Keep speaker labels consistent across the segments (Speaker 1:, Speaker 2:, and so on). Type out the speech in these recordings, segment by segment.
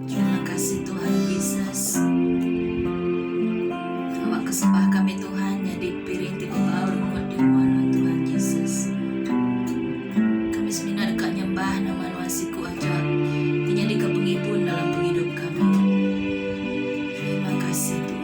Speaker 1: Terima kasih Tuhan Jesus. Awak kesembah kami Tuhan nyadi piring ti bebaur mengud di rumah nuan Tuhan Jesus. Kami semina deka nyembah nama nuan siku aja ti nyadika pengibun dalam pengidup kami. Terima kasih Tuhan.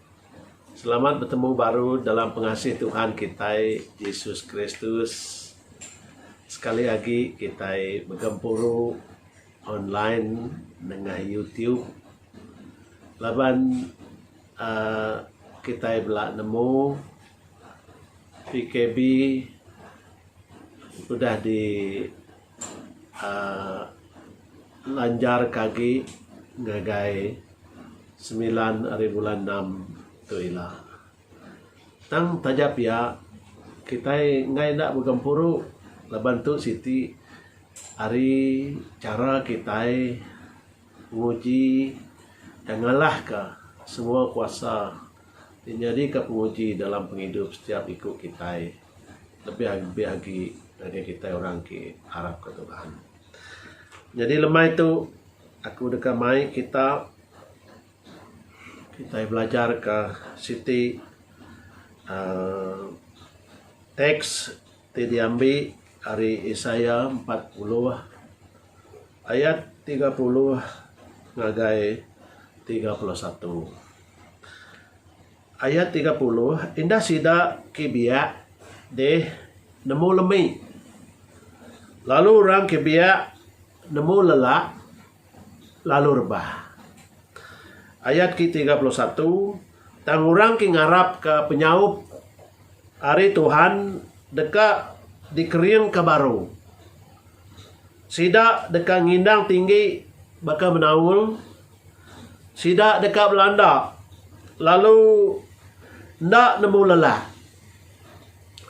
Speaker 2: Selamat betemu baru dalam pengasih Tuhan kitai Yesus Kristus. Sekali agi kitai begempuru online nengah YouTube laban uhh kitai bela nemu PKB udah di uhh lanjar ka agi ngagai semilan ari bulan enam tu ila. Tang taja pia kitai enggai enda begempuru laban tu siti ari chara kitai nguji dan ngalahka semua kuasa ti nyadika penguji dalam pengidup setiap iku kitai lebih lebih agi ngagai kitai orang ti arapka Tuhan. Nyadi lemai tu aku deka mai kita kitai belajarka siti aaa teks ti diambi ari Isaiah empat puluh ayat tiga puluh ngagai tiga puluh satu. Ayat tiga puluh, Enda sida ke biak deh nemu lemi, lalu orang ke biak nemu lelak lalu rebah. Ayat ke tiga puluh satu, Tang orang ke ngarapka penyaup ari Tuhan deka dikeringka baru. Sida deka ngindang tinggi baka menaul. Sida deka belanda lalu enda nemu lelah.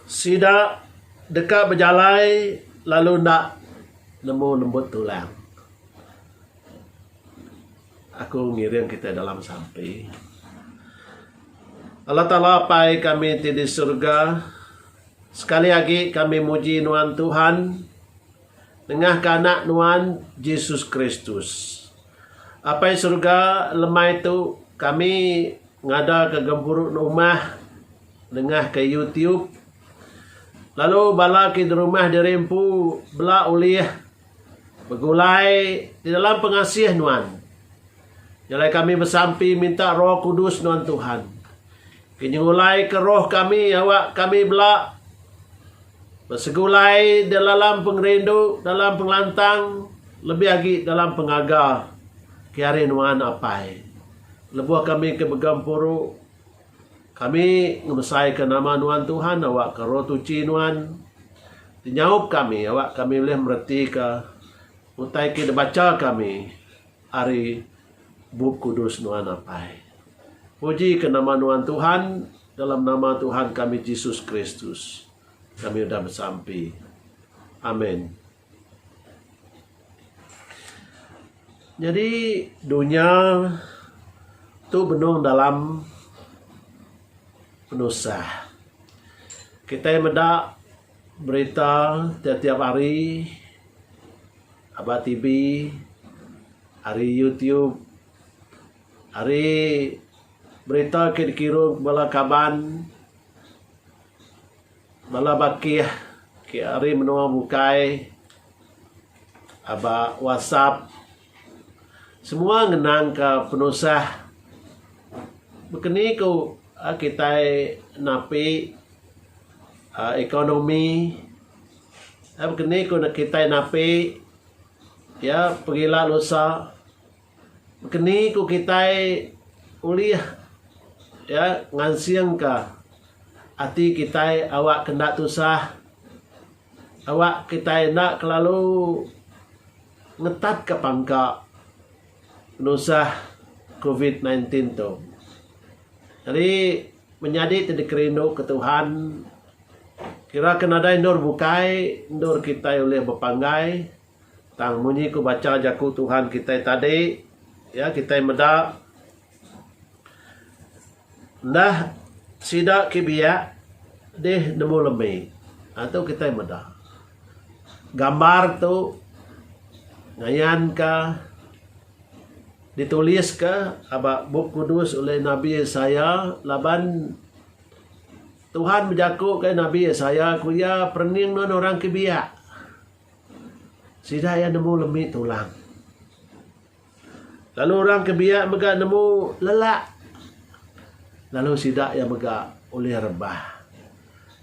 Speaker 2: Sida deka bejalai lalu enda nemu lembut tulang. Aku ngiring kitai dalam sampi. Allah Taala Apai kami ti di surga, sekali agi kami muji Nuan Tuhan. Nengahka Anak Nuan, Jesus Kristus. Apai Surga, lemai tu, kami ngadaka gempuru numah nengahka YouTube. Lalu bala ke derumah diri empu bela ulih begulai di dalam pengasih Nuan. Jalai kami besampi minta Roh Kudus Nuan Tuhan. Penyengulaika roh kami awak kami bela besegulai dalam pengerindu, dalam pengelantang, lebih agi dalam pengaga ke ari nuan apai. Lebuh kami ke mega empuru, kami ngebesaika nama nuan Tuhan awak ke roh tuchi nuan ti nyaup kami awak kami ulih meretika utai ke dibacha kami. Ari Bup Kudus nuan apai. Puji ke nama nuan Tuhan dalam nama Tuhan kami Jesus Kristus kami udah besampi. Amen. Nyadi dunya tu benung dalam penusah. Kitai meda berita tiap-tiap hari. Aba TV, ari YouTube, ari berita ke dikirun bala kaban, bala bakih ke ari menua bukai, aba WhatsApp, semua ngenangka penusah baka ni ku kitai napi ekonomi. Ap keni ku neh kitai napi iya pegila lusa keni ku kitai ulih iya ngansingka ati kitai awak ke enda tusah awak kitai enda kelalu ngetat ka pangka penusah covid nineteen tu. Jadi Menyadi ti dikerinduka Tuhan, kira ke nadai endur bukai endur kitai ulih bepanggai tang munyi ku bacha Jaku Tuhan kitai tadi iya kitai meda enda sida ke biak dih nemu lembi. Nah tu kitai meda gambar tu ngayanka. Dituliska aba Bup Kudus ulih Nabi Isaiah laban Tuhan bejaku ke Nabi Isaiah ku iya perening nuan orang ke biak. Sida iya nemu lemi tulang. Lalu orang ke biak mega nemu lelak. Lalu sida iya mega ulih rebah.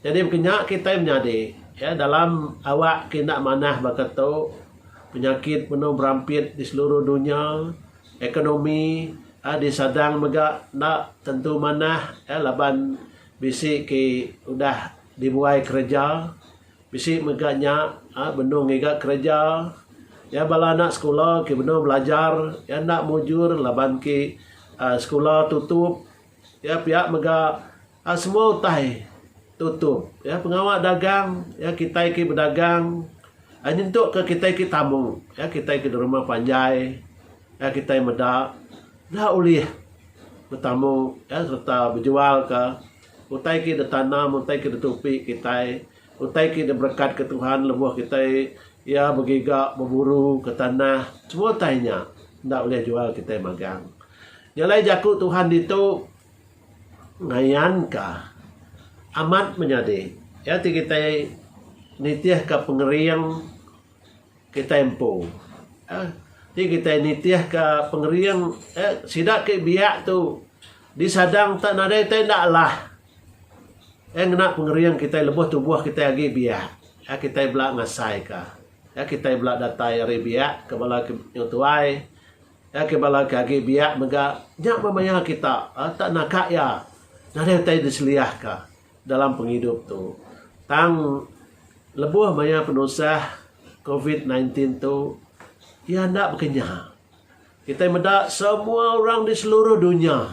Speaker 2: Jadi baka nya kitai menyadi iya dalam awak ke enda manah baka tu penyakit benung berampit di seluruh dunya ekonomi iya disadang mega enda tentu manah iya laban bisi ke udah dibuai kereja bisi mega nya benung ngiga kereja iya bala anak sekula ke benung belajar iya enda mujur laban ke sekula tutup iya pia mega A Semua utai tutup. Ya, pengawa dagang, ya kitai ke bedagang a nyentuk ke kitai ke tamu, ya kitai ke derma panjai, ya kitai meda enda ulih betamu ya sereta bejual ka utai ke ditanam, utai ke ditupi kitai, utai ke diberekat ke Tuhan lebuh kitai ya begiga beburu ke tanah. Semua utai nya enda ulih jual kitai magang. Nya alai jaku Tuhan ditu. Ngayanka amat menyadi iya ti kitai nitihka pengering kitai empu. Ti kitai nitihka pengering sida ke biak tu disadang tak nadai tai enda alah. Iya ngena pengering kitai lebuh tubuh kitai agi biak. Iya kitai bela ngasaika. Iya kitai bela datai ari biak ke bala nyau tuai. Iya ke bala ke agi biak mega nya memaya kita tak naka iya nadai utai diseliah ka dalam pengidup tu. Tang lebuh maya penusah covid nineteen belas tu iya enda bekenyah. Kitai meda semua orang di seluruh dunya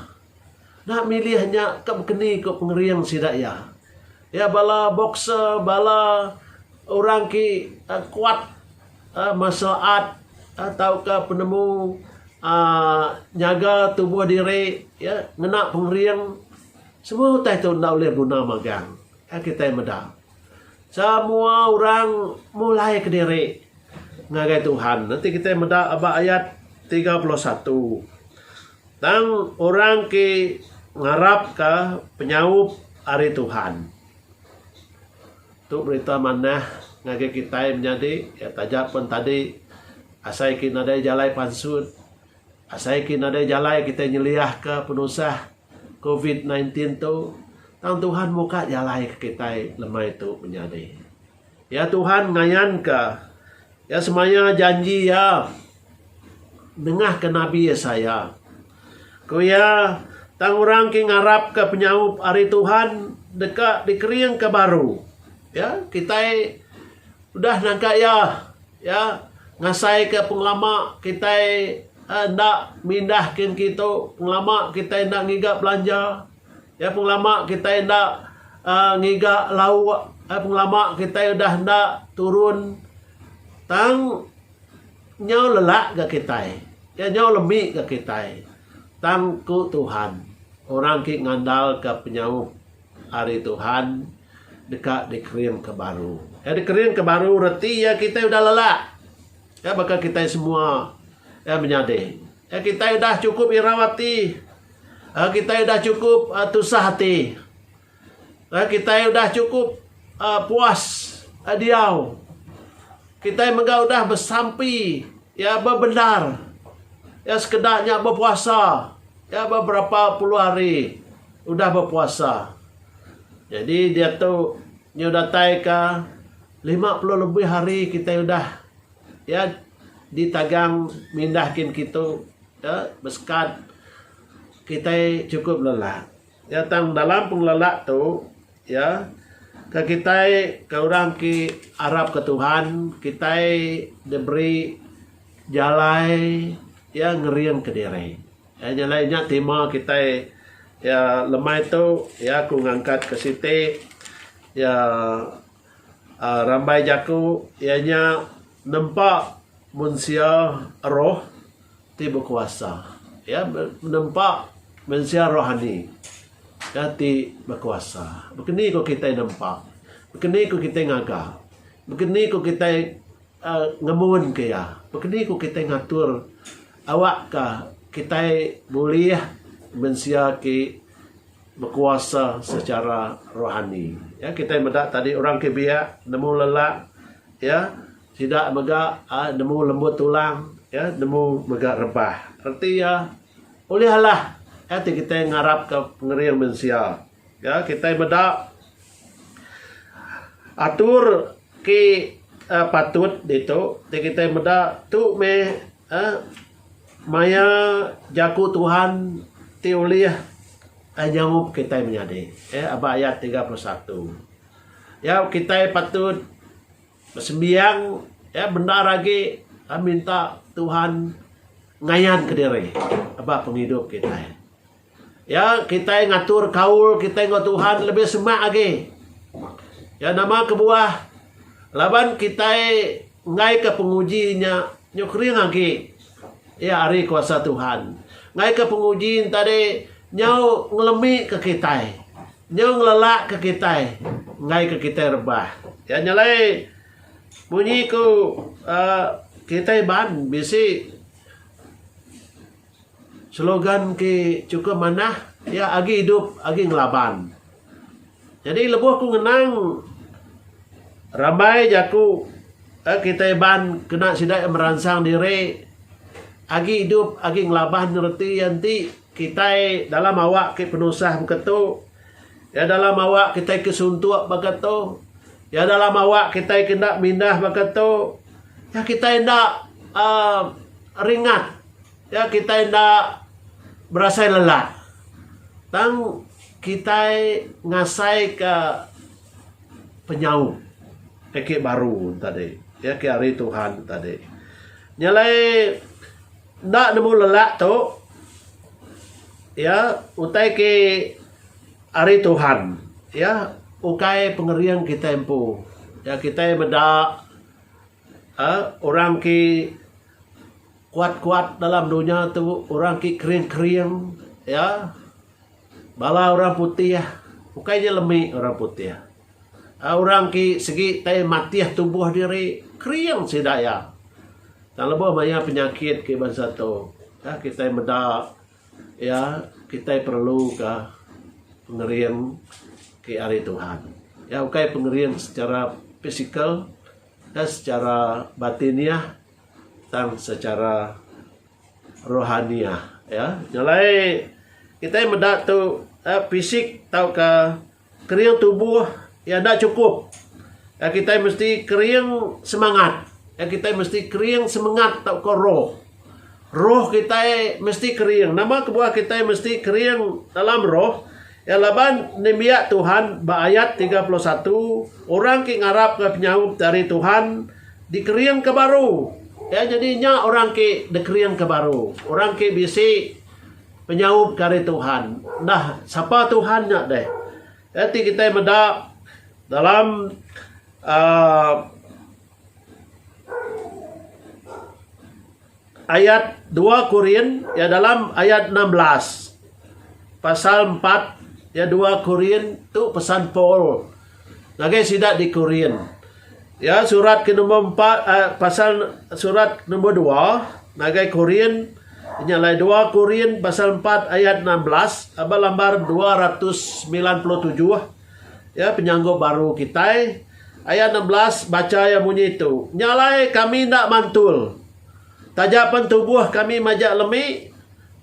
Speaker 2: enda milih nya ka bekeni ku pengering sida iya. Iya bala boxer bala orang ke kuat. martial art tauka penemu nyaga tubuh diri ngena pengering semua utai tu enda ulih guna magang ka kitai meda. Semua orang mulai kediri ngagai Tuhan enti kitai meda ba ayat tiga puluh satu tang orang ti ngarapka penyaup ari Tuhan. Tu berita manah ngagai kitai menyadi iya taja pen tadi asai ki nadai jalai pansut asai ki nadai jalai kitai nyeliahka penusah covid sembilan belas tu tang Tuhan muka jalai ke kitai lemai tu menyadi iya Tuhan ngayanka iya semaya janji iya nengahka nabi Isaiah. Ku iya, tang orang ke ngarapka penyaup ari Tuhan deka dikeringka baru. Ya, kitai udah nangka iya. Ya, ngasaika pengelama kitai eh, enda mindah kin kitu, pengelama kitai enda ngiga belanja. Ya, pengelama kitai enda uh, ngiga lauk. Eh, pengelama kitai udah enda turun. Tang Nyau lelak ga kitai, iya nyau lemi ga kitai, tang ku Tuhan, orang ke ngandalka penyaup ari Tuhan deka dikeringka baru. Iya dikeringka baru reti iya kitai udah lelak. Iya baka kitai semua iya menyadi. Iya kitai udah chukup irau ati. Iya kitai udah chukup tusah ati. Lalu kitai udah chukup um puas um diau, kitai mega udah besampi iya bebendar. Iya sekeda nya bepuasa, iya beberapa puluh hari udah bepuasa. Jadi diatu nyau datai ka lima puluh lebih hari kitai udah iya ditagang mindah kin kitu um besekat kitai chukup lelat. Iya tang dalam pengelala tu iya ke kitai ke orang ti arap ke Tuhan kitai diberi jalai iya ngering ke diri. Iya jalai nya tema kitai iya lemai tu iya ku ngangkat ke siti iya Aaa rambai jaku iya nya nempa mensia roh ti bekuasa iya nempa mensia rohani iya ti bekuasa baka ni ko kitai nempa baka ni ko kitai ngaga baka ni ko kitai aaa ngemun ke iya baka ni ko kitai ngatur awak ka kitai bulih mensia ti bekuasa sechara rohani. Ya kitai meda tadi orang ke biak nemu lelak ya sida mega ai nemu lembut tulang ya nemu mega rebah. Reti iya ulih alah ya ti kitai ngarapka pengering mensia. Ya kitai meda atur ke patut ditu ti kitai meda tu meh Eh maya jaku Tuhan ti ulih ai nyaup kitai menyadi eh aba ayat tiga puluh satu. Nyau kitai patut besembiang eh bendar agi minta Tuhan ngayanka diri aba pengidup kitai. Ya, kitai ngatur kaul kitai enggau Tuhan lebih semak agi. Ya nama kebuah laban kitai enggaika penguji nya nyukring agi iya ari kuasa Tuhan. Enggaika penguji nya tadi nyau ngelemika kitai, nyau ngelelakka kitai enggaika kitai rebah. Ya nya alai munyi ku uh, kitai ban bisi Slogan ti chukup manah iya agi idup agi ngelaban. Nyadi lebuh aku ngenang rambai jaku uhh kitai iban kena sida meransang diri agi idup agi ngelaban reti iya enti kitai dalam awak ke penusah meka tu iya dalam awak kitai ke suntuk baka tu iya dalam awak kitai ke enda mindah baka tu kitai enda uhh ringat. Nya kitai enda berasai lelah tang kitai ngasaika penyaup ake baru tadi iya ke ari Tuhan tadi. Nya alai enda nemu lelah tu iya utai ke ari Tuhan iya ukai pengering kitai empu. Nya kitai meda aaa orang ke Kuat-kuat dalam dunya tu orang ke kering-kering ya. Bala orang putih ukai nya lemi orang putih. Ai orang ke segi tai matih tubuh diri kering sida iya. Tang lebuh maya penyakit ke bansa tu ya kitai meda ya kitai perluka pengering ke ari Tuhan. Ya ukai pengering secara pisikal ya secara batiniah. tang secara rohaniah ya. Jalai kitai meda tu eh, fisik tauka kering tubuh ya enda cukup. Ya kitai mesti kering semangat. Ya kitai mesti kering semangat tauka roh. Roh kitai mesti kering. Nama kebuah kitai mesti kering dalam roh? Iya laban nembiak Tuhan ba ayat tiga puluh satu, Orang ke ngarapka penyaup ti ari Tuhan dikeringka baru. Iya nyadi nya orang ke dikeringka baru, orang ke bisi penyaup ke ari Tuhan. Enda sapa Tuhan nya deh. Iya ti kitai meda dalam uhh. ayat dua Korin ya dalam ayat enam belas. Pasal empat ya dua Korin tu pesan Paul ngagai sida di Korin. Ya surat ke nombor empat uh, pasal surat nombor dua ngagai Korin nya lai dua Korin pasal empat ayat enam belas aba lambar dua ratus semilan puluh tujuh. Ya, penyanggup baru kitai. Ayat enam belas, bacha iya munyi tu. Nya alai kami enda mantul. Taja pen tubuh kami majak lemi,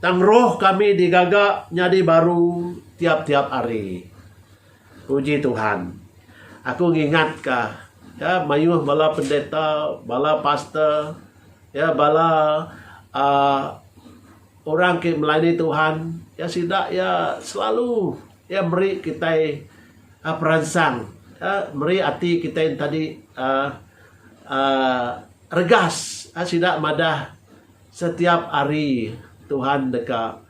Speaker 2: tang roh kami digaga nyadi baru tiap-tiap hari. Puji Tuhan. Aku ngingatka, ya, mayuh bala pendeta, bala pastor, ya, bala uh, orang ke melayani Tuhan, ya, sida, ya, selalu Iya meri kitai peransang, meri ati kitai entadi regas. Sida madah setiap hari Tuhan deka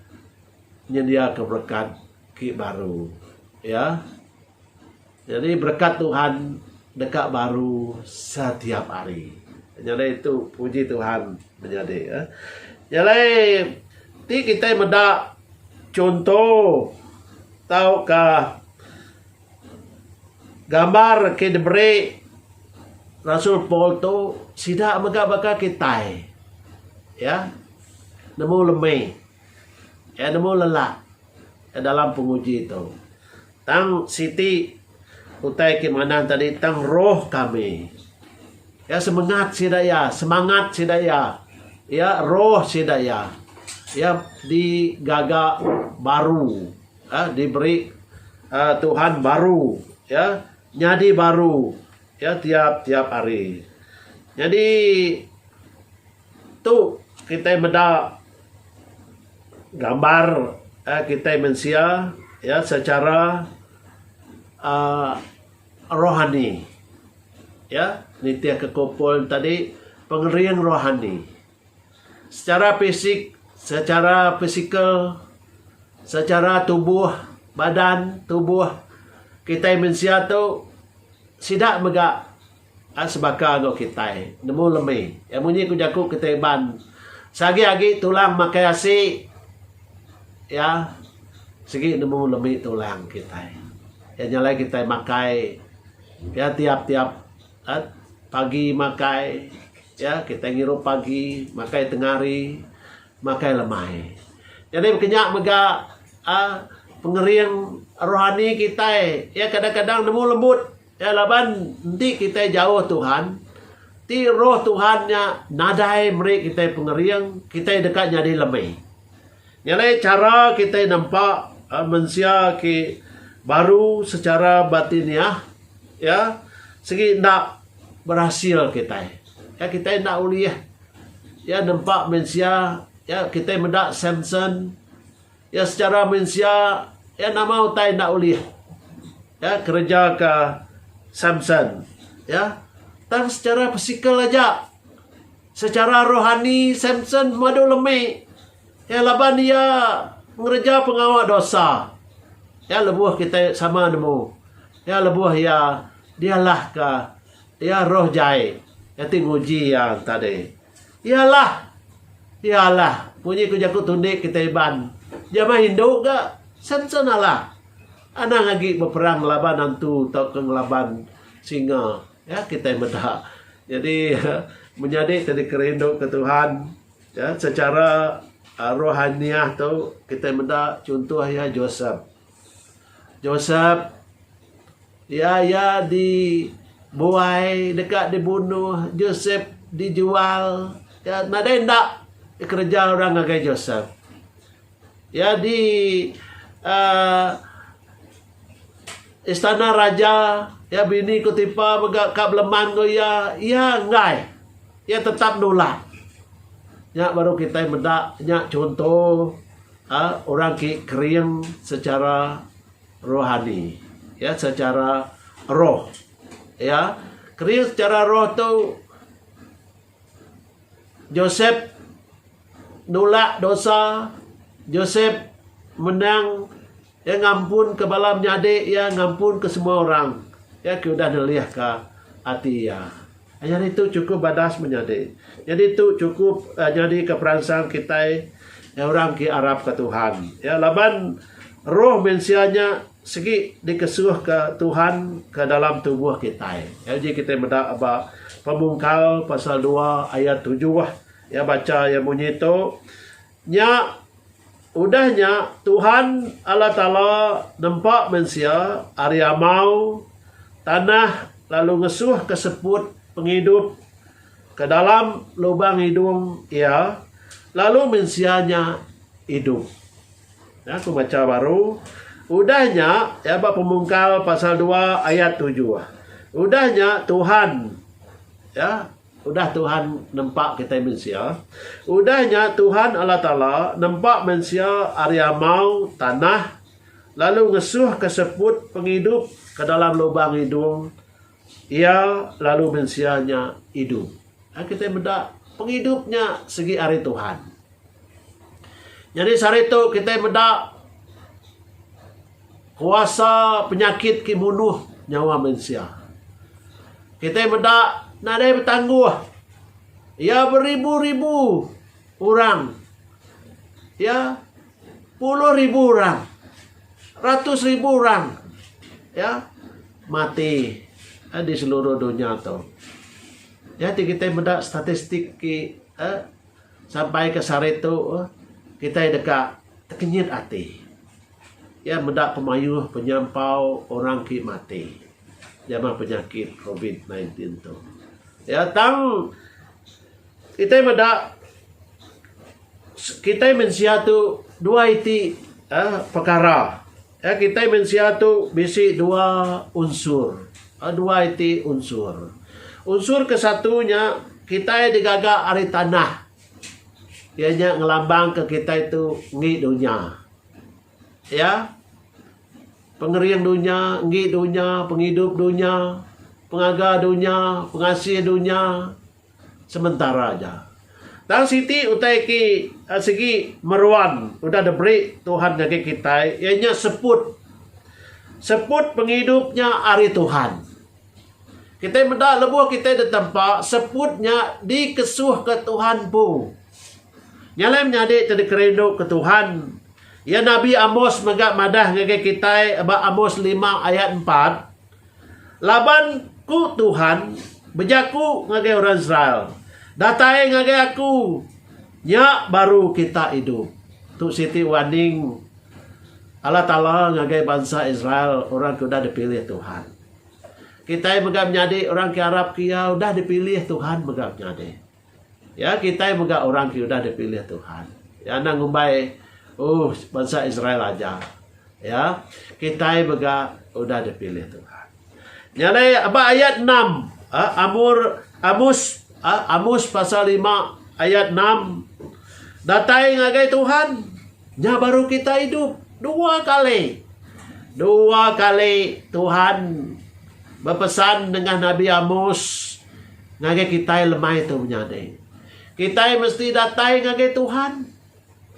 Speaker 2: nyendiaka berekat ti baru. Iya. Nyadi berekat Tuhan deka baru setiap hari. Nyadi tu puji Tuhan menyadi ya. Nyadi ti kita meda chunto tauka gambar ke diberi Rasul Paul tu sida mega baka kitai ya nemu lemi ya nemu lelak dalam penguji tu. Tang siti utai ti manah tadi tang roh kami. Iya semengat sida iya, semangat sida iya. Iya roh sida iya. Iya digaga baru. Ya, diberi uh, Tuhan baru. Ya, nyadi baru. Ya, tiap-tiap hari. Jadi, Tu kitai meda gambar uhh kitai mensia iya secara uhh rohani iya nitih ka ku Paul tadi pengering rohani secara fisik secara physical secara tubuh badan tubuh kitai mensia tu sida mega Enda sebaka enggau kitai nemu lemi. Iya munyi ku jaku kitai Iban, Seagi agi tulang makai asi, iya sigi nemu lemi tulang kitai. Iya nyalai kitai makai iya tiap tiap pagi makai iya kitai ngirup pagi makai tengah hari makai lemai. Jadi kenya mega aaa pengering rohani kitai iya kadang kadang nemu lembut. Iya laban enti kitai jauh Tuhan, ti Roh Tuhan nya nadai meri kitai pengering, kitai deka nyadi lemi. Nya alai chara kitai nempa mensia ke baru sechara batiniah iya sigi enda berasil kitai. Iya kitai enda ulih iya nempa mensia iya kitai meda Samson. Iya sechara mensia, iya nama utai enda ulih, iya kerejaka Samson, iya. Tang sechara pisikal aja, sechara rohani Samson madu lemi, iya laban iya ngereja pengawa dosa. Iya lebuh kitai sama nemu, iya lebuh iya dialahka iya roh jai, iya ti nguji iya tadi. Yalah. Yalah. Munyi ku jaku tunik kitai Iban. Jama indu ga sense nalah. Anang agi beperang ngelaban antu tauka ngelaban singa. Ya kitai meda. Jadi menyadi ti dikerindu ke Tuhan ya secara rohaniah tu kitai meda chuntoh iya Josep. Josep, iya iya di buai deka di bunuh, Josep di jual, iya nadai enda kereja orang ngagai Josep. Iya di aaa istana raja, iya bini Potipa mega ka beleman enggau iya, iya enggai, iya tetap nulak. Nya baru kitai meda nya chunto. A Orang ti kering sechara rohani, iya sechara roh. Ya, kering sechara roh tu Josep nulak dosa, Josep menang. Iya ngampunka bala menyadi iya, ngampunka semua orang iya ke udah nelihka ati iya. Nyadi tu chukup badas menyadi. Nyadi tu chukup nyadika peransang kitai orang ke arapka Tuhan. Ya, laban roh mensia nya sigi dikesuhka Tuhan ke dalam tubuh kitai. Ya, uji kitai meda ba Pemungkal pasal dua ayat tujuh. Ya, bacha iya munyi tu. Nya, udah nya Tuhan Allah Taala nempa mensia ari amau tanah lalu ngesuhka seput pengidup ke dalam lubang idung iya, lalu mensia nya idup. Nah, aku baca baru. Udah nya, ya ba Pemungkal pasal 2 ayat 7. Udah nya Tuhan ya, Udah Tuhan nempa kitai mensia. Udah nya Tuhan Allah Taala nempa mensia ari amau tanah lalu ngesuhka seput pengidup ke dalam lubang idung Iya lalu mensia nya idup. Ai kitai meda pengidup nya sigi ari Tuhan. Nyadi sehari tu kitai meda Kuasa penyakit ke munuh nyawa mensia. Kitai meda nadai betangguh iya beribu-ribu orang iya puluh ribu orang ratus ribu orang iya mati di seluruh dunya tu. Iya ti kitai meda statistik ti uhh sampai ke sehari tu kitai deka tekenyit ati. Iya meda pemayuh penyampau orang ti mati jama penyakit covid sembilan belas tu. Iya tang kitai meda kitai mensia tu dua iti uhh pekara uhh kitai mensia tu bisi dua unsur uhh dua iti unsur. Unsur ke satu nya kitai digaga ari tanah iya nya ngelambangka kitai tu ngi dunya. Iya, pengering dunya, enggi dunya, pengidup dunya, pengaga dunya, pengasih dunya, sementara aja. Tang siti utai ti sigi meruan udah diberi Tuhan ngagai kitai iya nya seput. Seput pengidup nya ari Tuhan. Kitai meda lebuh kitai ditempa seput nya dikesuhka Tuhan empu. Nyalai menyadi ti dikerinduka Tuhan. Iya Nabi Amos mega madah ngagai kitai ba Amos lima ayat empat, Laban ku Tuhan bejaku ngagai orang Israel, Datai ngagai aku, nya baru kita idup. Tu siti warning Allah Taala ngagai bansa Israel orang ke udah dipilih Tuhan. Kitai mega menyadi orang ke arapka iya udah dipilih Tuhan mega menyadi. Ya kitai mega orang ke udah dipilih Tuhan. Ya enda ngumbai uh bansa Israel aja. Ya kitai mega udah dipilih Tuhan. Nya alai aba ayat 6. Uh, Amur Amus uh, Amus pasal 5 ayat 6. Datai ngagai Tuhan. Nya baru kita hidup dua kali. Dua kali Tuhan berpesan dengan Nabi Amus Ngagai kitai lemai tu menyadi, kitai mesti datai ngagai Tuhan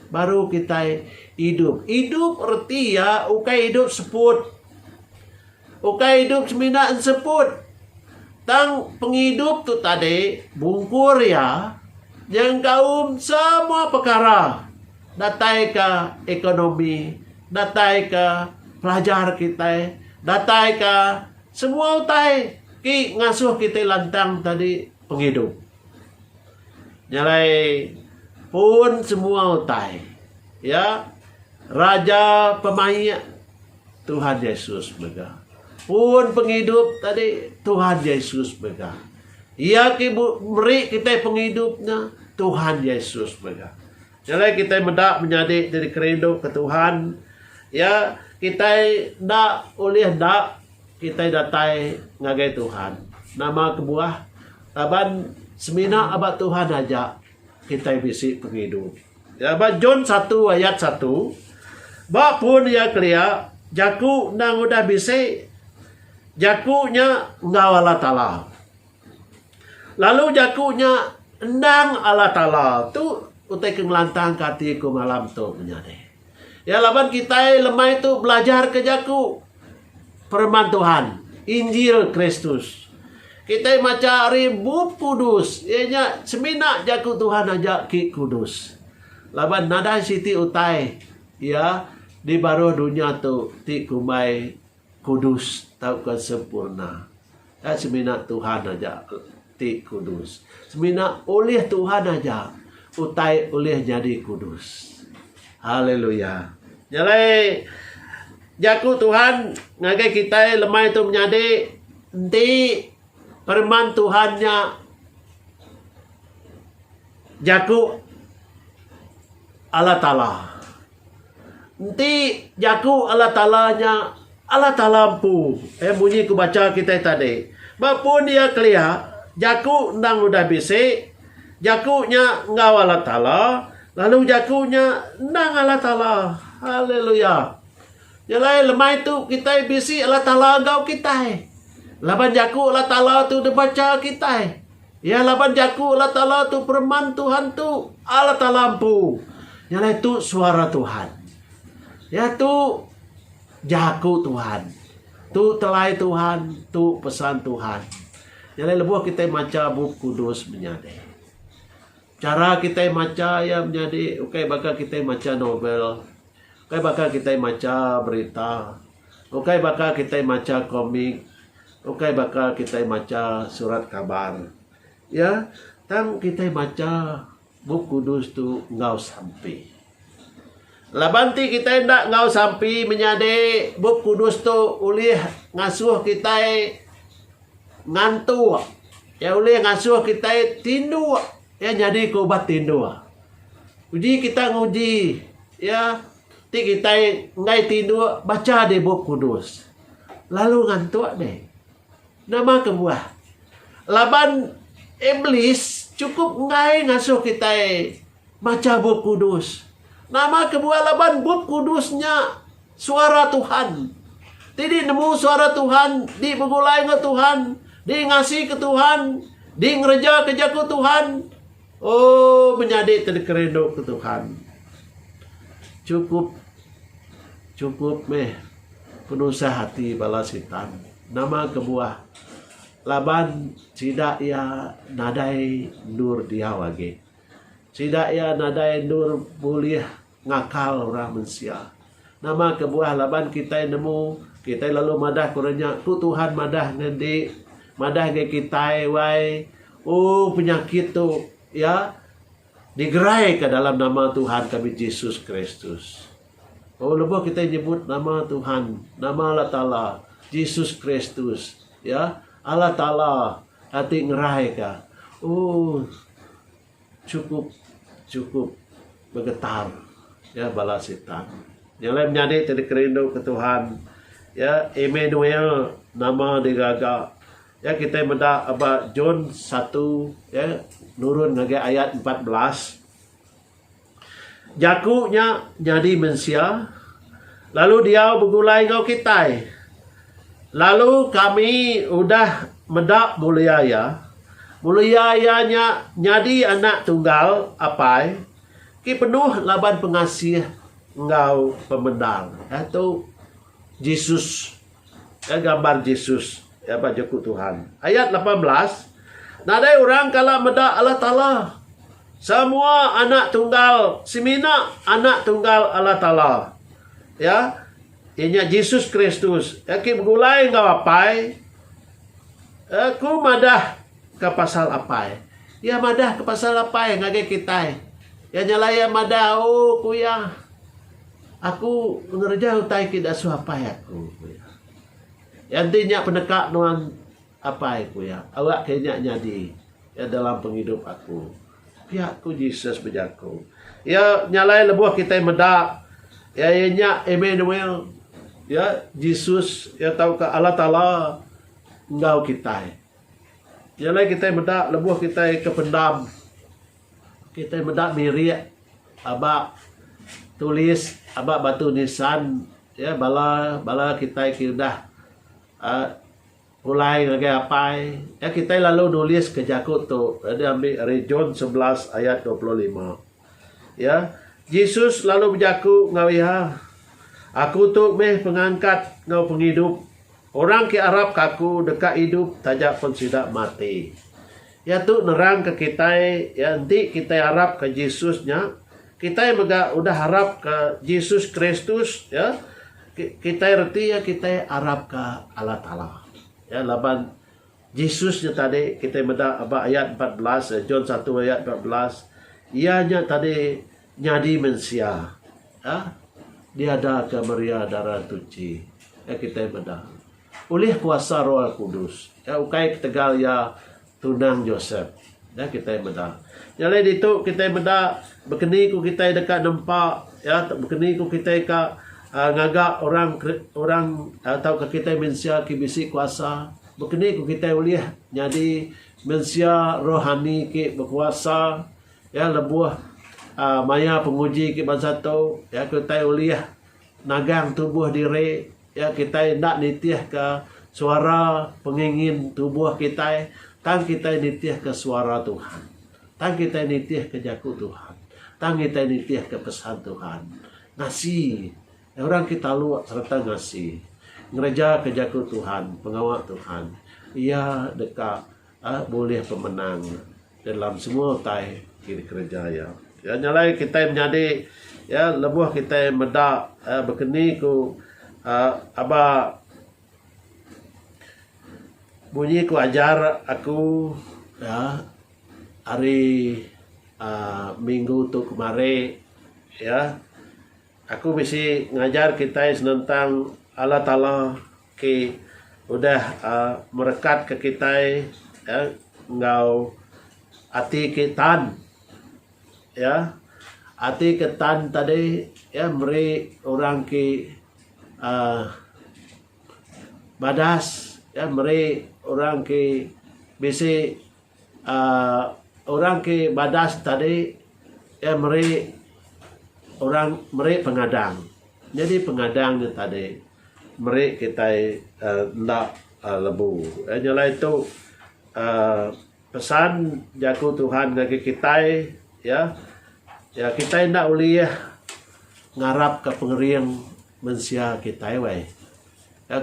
Speaker 2: baru kitai idup. Idup reti iya ukai idup seput. Ukai idup semina enseput. Tang pengidup tu tadi bungkur iya nyengkaum semua pekara datai ke ekonomi, datai ke pelajar kitai, datai ke Semua utai ti ngasuh kitai lantang tadi pengidup. Nyalai pun semua utai iya Raja Pemaik Tuhan Yesus mega. Pun pengidup tadi Tuhan Yesus mega. Iya ti meri kitai pengidup nya Tuhan Yesus mega. Jalai kitai meda menyadi diri ke rindu ke Tuhan, iya kitai enda ulih enda kitai datai ngagai Tuhan. Nama kebuah? Laban semina aba Tuhan aja kitai bisi pengidup. Ya, ba John satu ayat satu, ba pun iya kelia, Jaku endang udah bisi, Jaku nya enggau Allah Taala. Lalu jaku nya endang Allah Taala tu utai ke ngelantangka ati aku malam tu menyadi. Ya laban kitai lemai tu belajarka jaku pereman Tuhan, Injil Kristus. Kitai macha ari Bup Kudus, iya nya semina jaku Tuhan aja ke kudus. Laban nadai siti utai ya di baruh dunya tu ti kumbai Kudus tauka sempurna. Enda semina Tuhan aja ti kudus. Semina ulih Tuhan aja utai ulih nyadi kudus. Haleluya. Nya alai jaku Tuhan ngagai kitai lemai tu menyadi enti pereman Tuhan nya jaku Allah Taala. Enti jaku Allah Taala nya Allah Taala empu eh munyi ku bacha kitai tadi. Ba pun iya kelia jaku endang udah bisi jaku nya enggau Allah Taala lalu jaku nya endang Allah Taala. Haleluya. Nya alai lemai tu kitai bisi Allah Taala enggau kitai. Laban jaku Allah Taala tu dibacha kitai. Iya laban jaku Allah Taala tu pereman Tuhan tu Allah Taala empu. Nya alai tu suara Tuhan. Ya tu jaku Tuhan. Tu telai Tuhan, tu pesan Tuhan. Nya alai lebuh kita macha bup kudus menyadi. Chara kitai macha iya menyadi ukai baka kitai macha novel, ukai baka kitai macha berita, ukai baka kitai macha komik, ukai baka kitai macha surat kabar. Iya, tang kitai macha Bup Kudus tu enggau sampi. Laban ti kitai enda enggau sampi menyadi, Bup Kudus tu ulih ngasuh kitai ngantuk. Iya ulih ngasuh kitai tinduk. Iya nyadika ubat tinduk. Uji kitai nguji iya ti kitai enggai tinduk bacha dih Bup Kudus. Lalu ngantuk dih. Nama kebuah? Laban Iblis chukup enggai ngasuh kitai macha Bup Kudus. Nama kebuah laban Bup Kudus nya Suara Tuhan. Ti dinemu Suara Tuhan, di begulai enggau Tuhan, di ngasika Tuhan, di ngerejaka jaku Tuhan, oh menyadi te dikerinduka Tuhan. Chukup chukup meh penusah ati bala Sitan. Nama kebuah? Laban sida iya nadai endur diau agi. Sida iya nadai endur bulih ngakal orang mensia. Nama kebuah? Laban kitai nemu, kitai lalu madah ke orang nya, Ku Tuhan madah ngan enti, madah ngan kitai wai, u penyakit tu iya digeraika dalam nama Tuhan kami Jesus Kristus. Oh lebuh kitai nyebut nama Tuhan, nama Allah Taala, Jesus Kristus, ya, Allah Taala ati ngerai ka. Oh chukup chukup begetar ya bala sitan. Nya alai menyadi ti dikerindu ke Tuhan. Ya, Emmanuel nama dia gaga. Ya kitai meda aba John satu ya nurun ngagai ayat empat belas. Jaku nya nyadi mensia, lalu diau begulai enggau kitai. Lalu kami udah meda mulia Iya, mulia Iya nya nyadi Anak Tunggal Apai ti penuh laban pengasih enggau pemendar. Diatu Jesus. Ke gambar Jesus, iya ba Jeku Tuhan. Ayat lapan belas, Nadai orang kala meda Allah Taala. Semua anak tunggal semina anak tunggal Allah Taala. Ya, iya nya Jesus Kristus. Iya ke begulai enggau Apai. Aku madah ke pasal Apai. Iya madah ke pasal Apai ngagai kitai. Iya nyelai iya madah, Oh, ku iya. Aku ngereja utai ti diasuh apai aku, ku iya. Iya enti nya peneka nuan apai, ku iya, awa ke nya nyadi iya dalam pengidup aku. Pia ku Jesus bejaku. Iya nyalai lebuh kitai meda iya iya nya Immanuel, iya Jesus iya tauka Allah Taala enggau kitai. Nyalai kitai meda lebuh kitai ke pendam Kitai meda birik aba tulis aba batu nisan iya bala bala kitai ti udah uhh pulai ngagai apai iya kitai lalu nulis ka jaku tu deh ambi ari John sebelas ayat dua puluh lima iya Jesus lalu bejaku enggau iya Aku tu meh pengangkat enggau pengidup orang ke arap ka Aku deka idup taja pen sida mati. Iya tu nerangka kitai, iya enti kitai arapka Jesus nya, kitai mega udah arapka Jesus Kristus, ya. Kitai reti iya kitai arapka Allah Taala. Ya, laban Jesus nya tadi kitai meda ba ayat empat belas, John satu ayat empat belas, iya nya tadi Nyadi mensia ya diadaka Maria Dara Tuchi ya kitai meda ulih kuasa Roh Kudus ya ukai ketegal iya tunang Josep ya kitai meda. Nya alai ditu kitai meda bekeni ku kitai deka nempa ya bekeni ku kitai ka ngaga orang orang tauka kitai mensia ke bisi kuasa bekeni ku kitai ulih nyadi mensia rohani ke bekuasa. Iya lebuh maya penguji ke bansa tu, iya ke utai ulih nagang tubuh diri, iya kitai enda nitihka suara pengingin tubuh kitai, tang kitai nitihka suara Tuhan. Tang kitai nitihka jaku Tuhan. Tang kitai nitihka pesan Tuhan. Ngasi orang ke taluk sereta ngasi ngerejaka jaku Tuhan, pengawa Tuhan, iya deka Aa bulih pemenang dalam semua utai ti dikereja iya. Iya nya alai kitai menyadi iya lebuh kitai meda aa bekeni ku aa aba bunyi ku ajar aku aa hari aa minggu tu kemari iya aku bisi ngajar kitai senentang Allah Taala. ke udah merekatka kitai enggau ati ke tan ati ke tan tadi meri orang ke um badas meri orang ke bisi uhh orang ke badas tadi iya meri orang meri pengadang nyadi pengadang nya tadi meri kitai uhh enda lebu uhh nya alai tu uhh pesan jaku Tuhan ngagai kitai iya iya kitai enda ulih ngarap ka pengering mensia kitai weh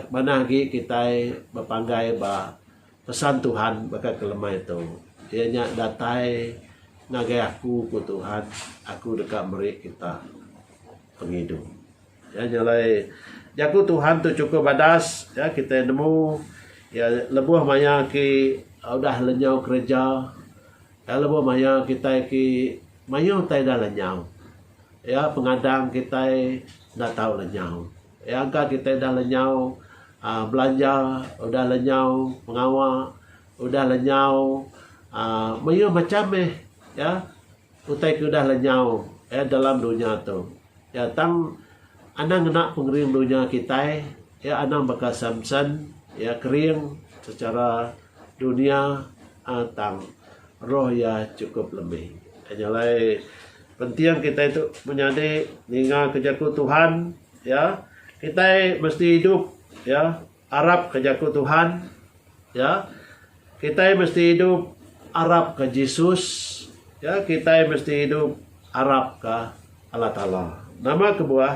Speaker 2: manah agi kitai bepanggai ba Pesan Tuhan baka kelemai tu, iya nya datai ngagai aku, ku Tuhan, aku deka meri kita pengidu. Iya nya alai jaku Tuhan tu chukup badas ya kitai nemu ya lebuh maya aki udah lenyau kereja ya lebuh maya kitai aki mayuh tai dah lenyau ya pengadang kitai enda tau lenyau. Iya engka kitai udah lenyau aaa belanja, udah lenyau pengawa, udah lenyau aaa mayuh macham mih iya utai ke udah lenyau iya dalam dunya tu. Iya tang anang ngena pengering dunya kitai iya anang baka Samson iya kering secara dunya aaa tang roh iya chukup lebih. Iya nya alai Penting kitai tu menyadi ninga ke jaku Tuhan ya. Kitai mesti idup ya arap ke jaku Tuhan ya. Kitai mesti idup arap ke Jesus ya. Kitai mesti idup arap ke Allah Taala. Nama kebuah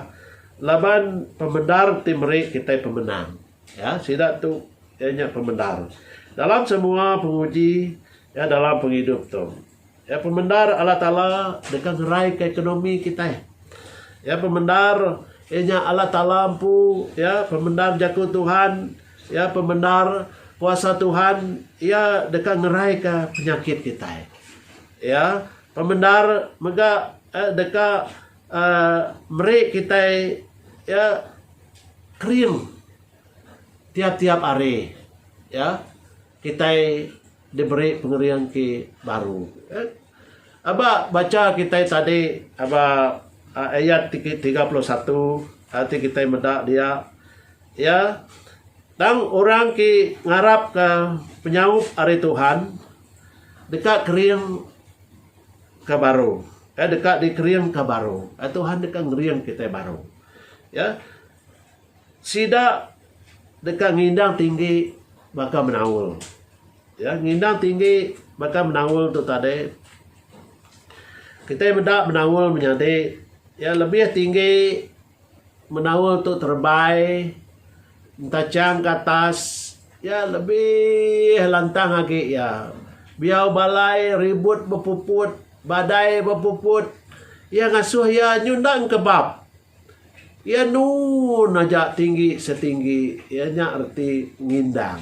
Speaker 2: laban pemendar ti meri kitai pemenang ya. Sida tu iya nya pemendar dalam semua penguji ya dalam pengidup tu. Iya pemendar Allah Taala deka ngeraika ekonomi kitai. Iya pemendar inya Allah Taala empu iya pemendar jaku Tuhan iya pemendar kuasa Tuhan iya deka ngeraika penyakit kitai. Iya pemendar mega eh, deka uh, meri kitai iya kering tiap-tiap hari. Ya, kitai Diberi pengering ti baru. Aba bacha kitai tadi aba ayat ti ke tiga puluh satu ti kitai meda dia iya tang orang ti ngarapka penyaup ari Tuhan deka kering ke baru deka dikering ke baru Tuhan deka ngering kitai baru ya. Sida deka ngindang tinggi baka menaul. Ya, ngindang tinggi baka menaul tu tadi. Kitai meda menaul menyadi ya lebih tinggi menaul tu terebai entachang ke atas ya lebih lantang agi ya. Biau balai ribut bepuput, badai bepuput iya ngasuh iya nyundang ke bab. Iya nun aja tinggi setinggi iya nya reti ngindang.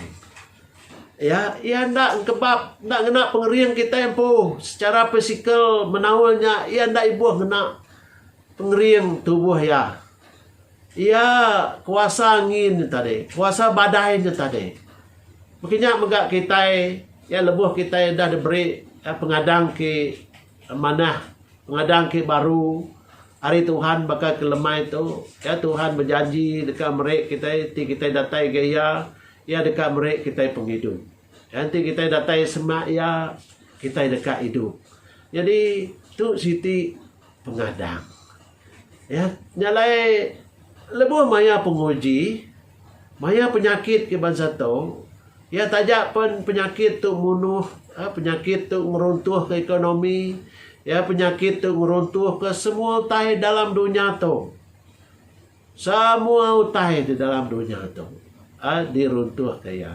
Speaker 2: Iya iya enda engkebap enda ngena pengering kitai empu secara pisikal menaul nya iya enda ibuh ngena pengering tubuh iya. Iya kuasa ngin nya tadi kuasa badai nya tadi. Mung kinya mega kitai iya lebuh kitai udah diberi pengadang ti manah pengadang ti baru. Ari Tuhan baka ke lemai tu, ya Tuhan bejanji deka meri kitai enti kitai datai ga Iya, Iya deka meri kitai pengidup. Ya enti kitai datai semak Iya, kitai deka idup. Nyadi tu siti pengadang. Ya, nya alai lebuh maya penguji, Maya penyakit ke bansa tu, iya taja pen penyakit tu munuh, eh, penyakit tu ngeruntuhka ekonomi, iya penyakit tu ngeruntuhka semua utai dalam dunya tu. Semua utai di dalam dunya tu eh, diruntuhka iya.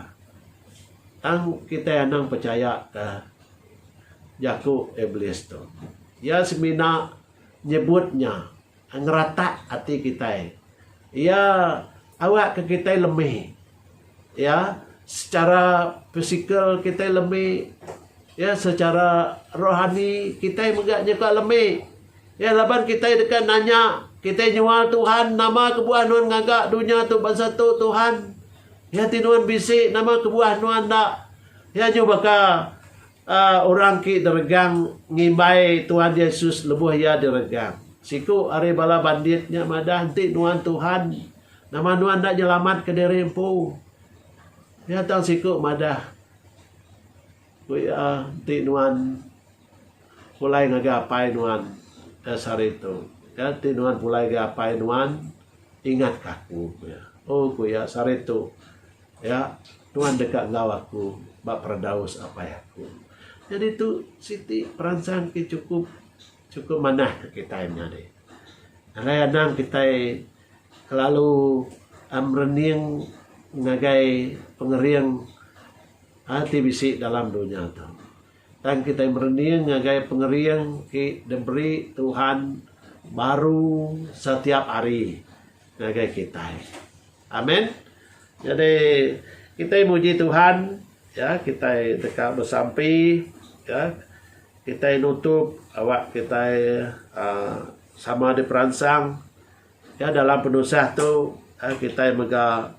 Speaker 2: Tang kitai anang pechayaka jaku Iblis tu. Iya semina nyebut nya. Ngeratak ati kitai. Iya awak ke kitai lemi. Iya secara pisikal kitai lemi. Iya secara rohani kitai mega nyuka lemi. Iya laban kitai deka nanya kitai nyual Tuhan nama kebuah nuan ngaga dunya tu bansa tu Tuhan. Iya ti nuan bisi nama kebuah nuan enda. Iya nyuh baka. Orang ti diregang ngimbai Tuhan Yesus lebuh iya diregang. Siku ari bala bandit nya madah, Enti Nuan Tuhan, nama Nuan enda nyelamatka diri empu? Iya tang siku madah, Ku iya, Enti Nuan pulai ngagai Apai Nuan da sehari tu, ya, enti Nuan pulai ngagai Apai Nuan, ingatka aku, ku iya. Oh, ku iya, sehari tu Ya, Tuhan deka enggau aku ba peradaus apai aku. Nyadi tu siti peransang ti chukup chukup manah ke kitai menyadi. Alai anang kitai kelalu a merening ngagai pengering a ti bisi dalam dunya tu. Tang kitai merening ngagai pengering ti diberi Tuhan baru setiap hari ngagai kitai. Amen. Jadi kitai muji Tuhan ya kitai deka besampi ya kitai nutup awak kitai uh, sama diperansang ya dalam penusah tu uh, kitai mega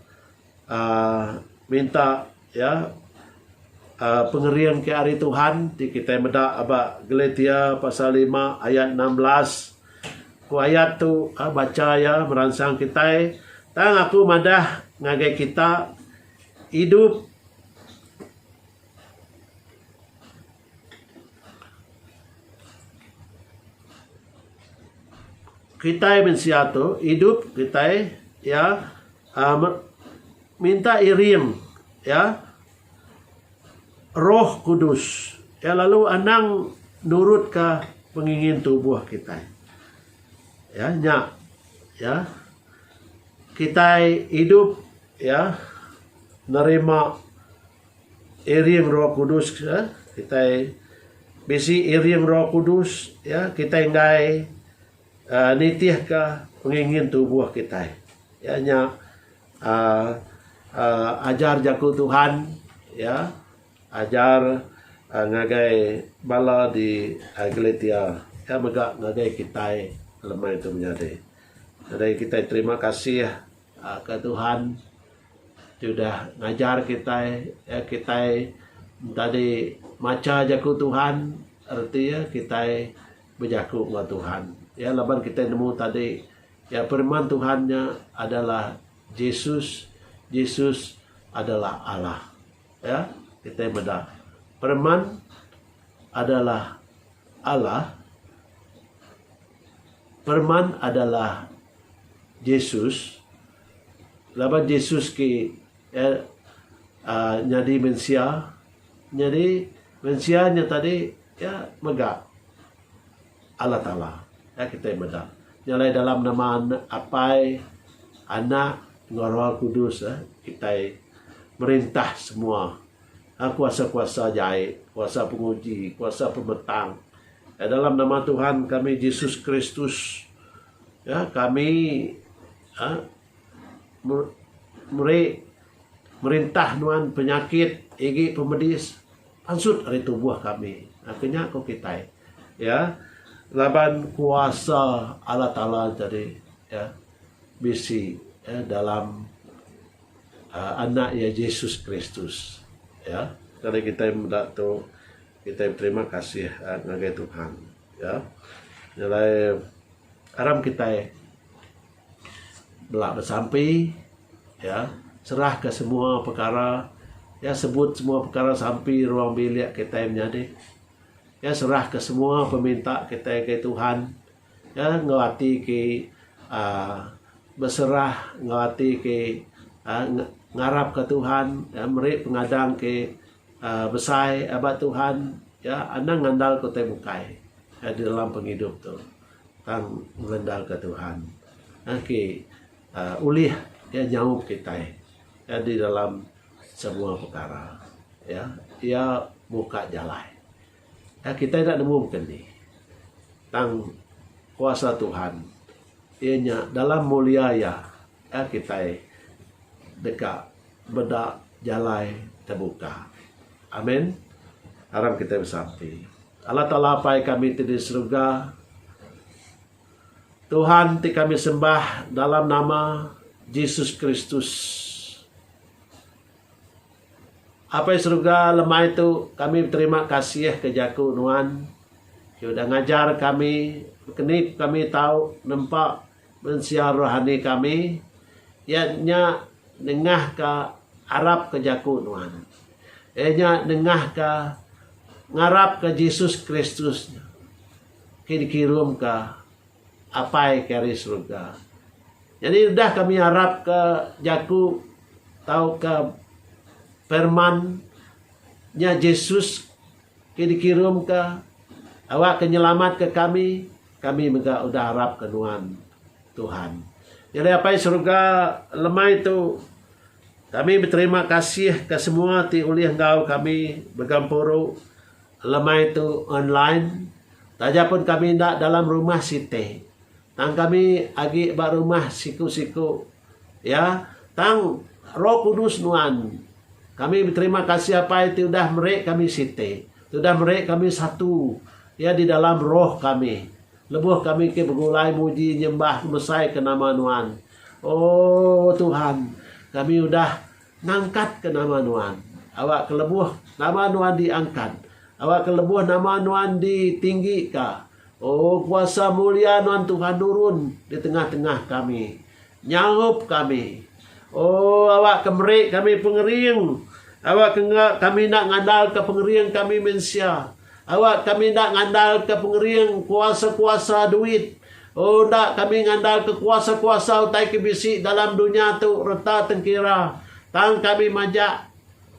Speaker 2: uh, minta Iya, aa, pengering ke ari Tuhan ti kitai meda ba Galatia pasal lima ayat enam belas. Ku ayat tu, aa, bacha iya meransang kitai, tang aku madah ngagai kita, idup Kitai mensia tu idup kitai iya aaa me minta iring iya roh kudus iya lalu anang nurut ka pengingin tubuh kitai. Iya nya iya kitai idup iya nerima Iring Roh Kudus ke kitai bisi iring Roh Kudus iya kitai enggai uhh nitihka pengingin tubuh kitai. Iya nya uhh uhh ajar jaku Tuhan iya ajar ngagai bala di Galatia iya mega ngagai kitai lemai tu menyadi. Jadi kitai terima kasih. Ka Tuhan tudah ngajar kitai iya kitai entadi macha jaku Tuhan reti iya kitai bejaku enggau Tuhan. Iya laban kitai nemu tadi iya pereman Tuhan nya adalah Jesus, Jesus adalah Allah. Iya kitai meda pereman adalah Allah pereman adalah. Jesus, laban Jesus ke nyadi mensia, nyadi mensia nya tadi iya mega Allah Taala. Nya kitai meda nya alai dalam nama Apai, Anak enggau Roh Kudus eh kitai merintah semua kuasa-kuasa jai, kuasa penguji, kuasa pemetang. Dalam nama Tuhan kami Jesus Kristus. Ya kami uhh meri merintah nuan penyakit igi pemedis pansut ari tubuh kami uhh ke nya ku kitai ya laban kuasa Allah taala tadi ya bisi ya dalam uhh anak iya Jesus Kristus ya. Tadi kitai meda tu. Kitai beterima kasih ngagai Tuhan ya nyelai aram kitai bela besampi ya serah ka semua pekara ya sebut semua pekara sampi ruang bilik kitai menyadi ya serah ka semua peminta kitai ngagai Tuhan ya enggau ati ke uhh beserah enggau ati ke uhh ngarap ka Tuhan meri pengadang ke Besai ba Tuhan ya anang ngandalka utai bukai di dalam pengidup tu tang mengandalka Tuhan agi ulih iya nyaup kitai di dalam semua pekara ya iya muka jalai ya kitai enda nemu baka ni tang kuasa Tuhan iya nya dalam mulia iya. Ka kitai deka meda jalai tebuka? Amin. Aram kitai besampi. Allah Taala Apai kami ti di serega, Tuhan ti kami sembah dalam nama Jesus Kristus. Apai serega lemai tu kami beterima kasih ke jaku Nuan ke udah ngajar kami ke ni kami tau nempa Mensia rohani kami, iya nya nengahka arap ke jaku nuan. Iya nya nengahka ngarapka Jesus Kristus ti dikirumka Apai ke ari serega. Nyadi udah kami arapka jaku tauka perman nya Jesus. Ke dikirumka, awakka nyelamatka kami, kami mega udah arapka Nuan, Tuhan. Nyadi Apai Seruga, lemai tu, kami beterima kasih ke semua ti ulih enggau kami begempuru, lemai tu online, taja pun kami enda dalam rumah siti. Tang kami agi ba rumah siku-siku, ya, tang Roh Kudus nuan. Kami beterima kasih Apai ti udah meri kami siti, ti udah meri kami satu, ya, di dalam roh kami, lebuh kami ke begulai muji nyembah ngebesaika nama nuan. Oh, Tuhan, kami udah ngangkatka nama nuan. Awakka lebuh nama nuan diangkat. Awakka lebuh nama nuan ditinggika. O kuasa mulia nuan Tuhan nurun di tengah tengah kami. Nyaup kami. O awak ke meri kami pengering. Awak ke enggak kami enda ngandal ke pengering kami mensia. Awak kami enda ngandal ke pengering kuasa kuasa duit. O enda kami ngandal ke kuasa kuasa utai ke bisi dalam dunya tu reta tengkira. Tang kami majak.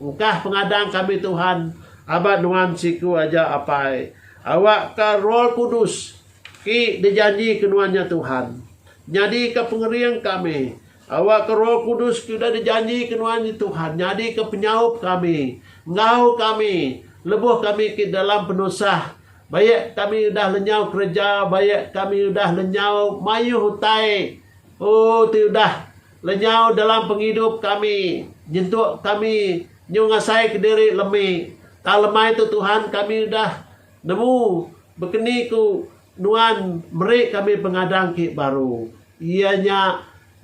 Speaker 2: Ukah pengadang kami Tuhan, aba nuan siku aja Apai. Awakka Roh Kudus, ti dijanjika nuan nya Tuhan, nyadika pengering kami. Awakka Roh Kudus ti udah dijanjika nuan nya Tuhan, nyadika penyaup kami. Enggau kami, lebuh kami ke dalam penusah, bayak kami udah lenyau kereja, bayak kami udah lenyau mayuh utai, oh, ti udah. Lenyau dalam pengidup kami, nyentuk kami nyu ngasai kediri lemi. Tang lemai tu Tuhan kami udah nemu bekeni ku Nuan meri kami pengadang ki baru. Iya nya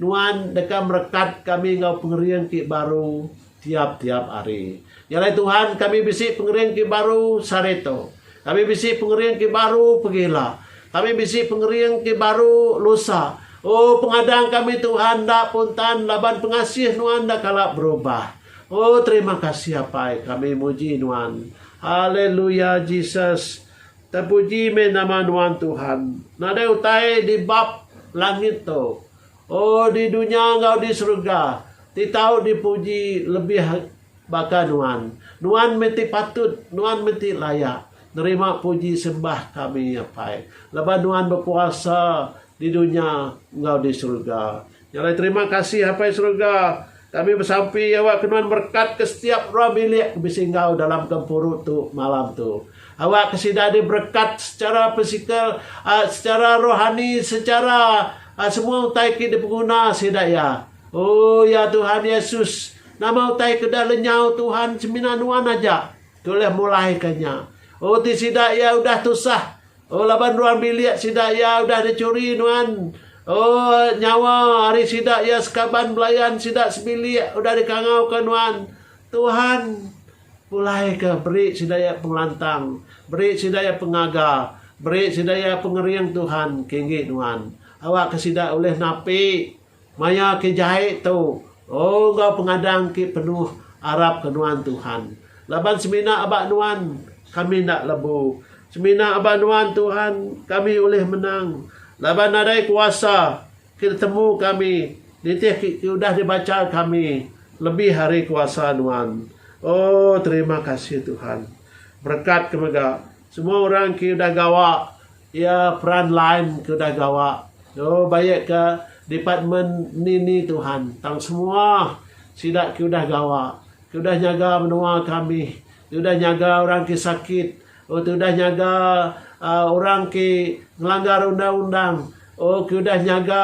Speaker 2: Nuan deka merekat kami enggau pengering ki baru. Tiap-tiap hari. Nya alai Tuhan, kami bisi pengering ti baru sehari tu. Kami bisi pengering ti baru pagi ila. Kami bisi pengering ti baru lusa. Oh, pengadang kami Tuhan enda pun tan laban pengasih Nuan enda kala berubah. Oh, terima kasih Apai, kami muji Nuan. Haleluya, Jesus. Tepuji meh nama Nuan Tuhan. Nadai utai di bab langit tu. O di dunya enggau di serega, ti tau dipuji lebih baka Nuan. Nuan meh ti patut, Nuan meh ti layak nerima puji sembah kami, Apai, laban Nuan bekuasa di dunya enggau di serega. Nya alai terima kasih, Apai Serega, Kami besampi awak ke nuan berekatka setiap orang bilik ke bisi enggau dalam gempuru tu malam tu. Awak ke sida diberekat secara fizikal, ah, secara rohani, secara ah, semua utai ke dipenguna sida iya. Oh, ya Tuhan Yesus, nama utai ke udah lenyau Tuhan semina nuan aja ke ulih mulaika nya. Oh, ti sida iya udah tusah, Oh laban ruang bilik sida iya udah dicuri nuan. Oh nyawa ari sida iya sekaban belayan sida sebilik udah dikangauka nuan. Tuhan, pulaika beri sida iya pengelantang, beri sida iya pengaga, beri sida iya pengering Tuhan kenggi nuan. Awakka sida ulih napi. Maya ke jai tu, enggau pengadang ke penuh arap ke nuan Tuhan. Laban semina aba nuan, kami enda lebu. Semina aba nuan Tuhan, kami ulih menang. Laban nadai kuasa ke ditemu kami, nitih ke udah dibacha kami lebih ari kuasa nuan. Oh, terima kasih Tuhan. Berekat ke mega semua orang ke udah gawa. Iya peran lain ke udah gawa tu baik ke department ni ni Tuhan tang semua sida ke udah gawa ke udah nyaga menua kami ke udah nyaga orang ke sakit oh ke udah nyaga aaa orang ke ngelanggar undang undang oh ke udah nyaga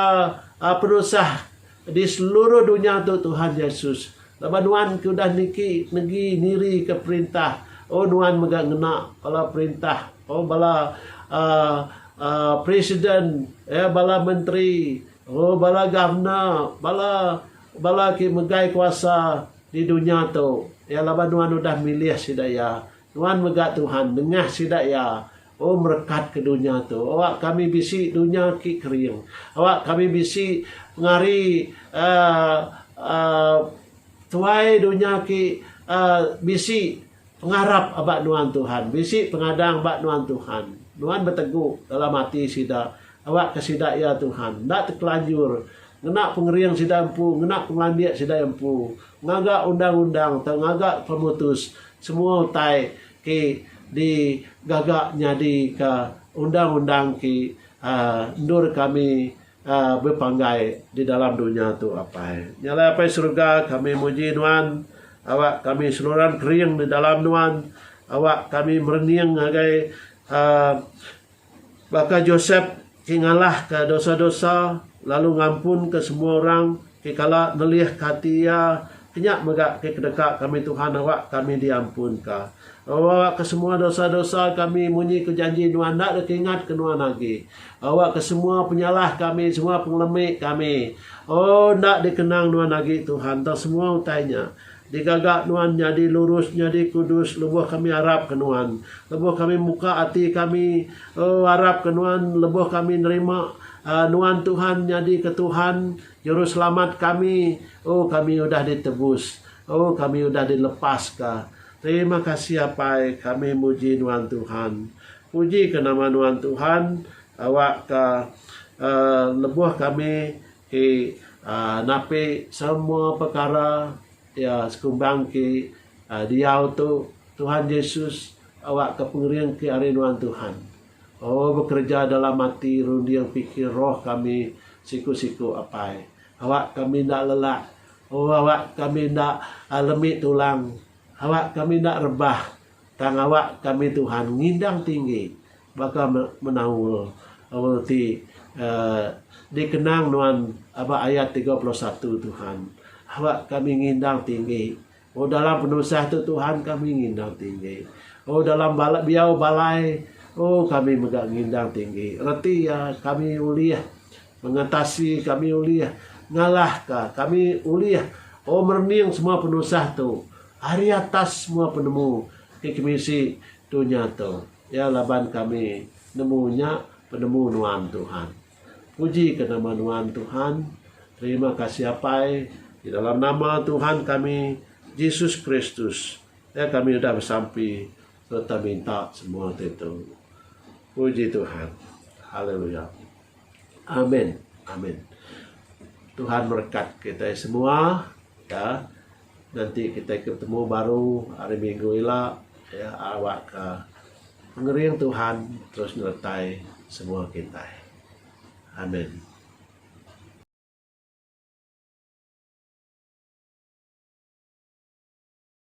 Speaker 2: aaa penusah Di seluruh dunya tu Tuhan Jesus, laban nuan ke udah niki negi nirika perintah, oh nuan mega ngena bala perintah, oh bala uhh presiden, uhh bala menteri, oh bala governor, bala bala ke megai kuasa di dunya tu, iya laban nuan udah milih sida iya. Nuan mega Tuhan nengah sida iya. O merekat ke dunya tu, awak kami bisi dunya ki kering. Awak kami bisi ngari tuai dunya ki bisi pengarap ba nuan Tuhan, bisi pengadang ba nuan Tuhan. Nuan betegu dalam ati sida, awak ke sida iya Tuhan, enda tekelanjur ngena pengering sida empu, ngena pengelandik sida empu, ngaga undang-undang tau ngaga pemutus semua utai. Ti digaga nyadi ka undang-undang ti endur kami bepanggai di dalam dunya tu apai. Nya alai apai seruga kami muji nuan awak kami seluran kering di dalam nuan awak kami merening ngagai. Baka Josep ti ngalahka dosa-dosa lalu ngampunka semua orang ti kala nelihka ati iya, kenya mega ati kedeka kami Tuhan awak kami diampunka. Awakka semua dosa-dosa kami munyi ku janji nuan enda deka ingat ke nuan agi. Awakka semua penyalah kami, semua pengelemi kami. O enda dikenang nuan agi Tuhan tang semua utai nya. Digaga nuan nyadi lurus nyadi kudus lebuh kami arap ke nuan. Lebuh kami muka ati kami oh arap ke nuan lebuh kami nerima ah nuan Tuhan nyadi ke Tuhan juruselamat kami oh kami udah ditebus oh kami udah dilepas ka. Terima kasih apai kami muji nuan Tuhan. Puji ke nama nuan Tuhan awak ka ah lebuh kami Ti napi semua pekara iya sekumbang ti diau tu Tuhan Jesus awakka pengering ti ari nuan Tuhan. O bekereja dalam ati runding pikir roh kami siku-siku apai. Awak kami enda lelak. O awak kami enda lemi tulang. Awak kami enda rebah tang awak kami Tuhan ngindang tinggi. Baka menaul aul ti dikenang nuan ba ayat tiga puluh satu, Tuhan, aba kami ngindang tinggi. O dalam penusah tu Tuhan kami ngindang tinggi. O dalam biau balai o kami mega ngindang tinggi. Reti iya kami ulih ngatasi kami ulih ngalahka kami ulih o merening semua penusah tu ari atas semua penemu ti kemisi dunya tu. Ya laban kami nemu nya penemu nuan Tuhan. Puji ke nama nuan Tuhan. Terima kasih Apai di dalam nama Tuhan kami Jesus Kristus ya kami udah besampi sereta minta semua ti tu. Puji Tuhan. Haleluya. Amen. Amen. Tuhan merekat kitai semua ya. Nanti kitai ke betemu baru hari minggu ila iya awakka pengering Tuhan terus nyertai semua kitai. Amen.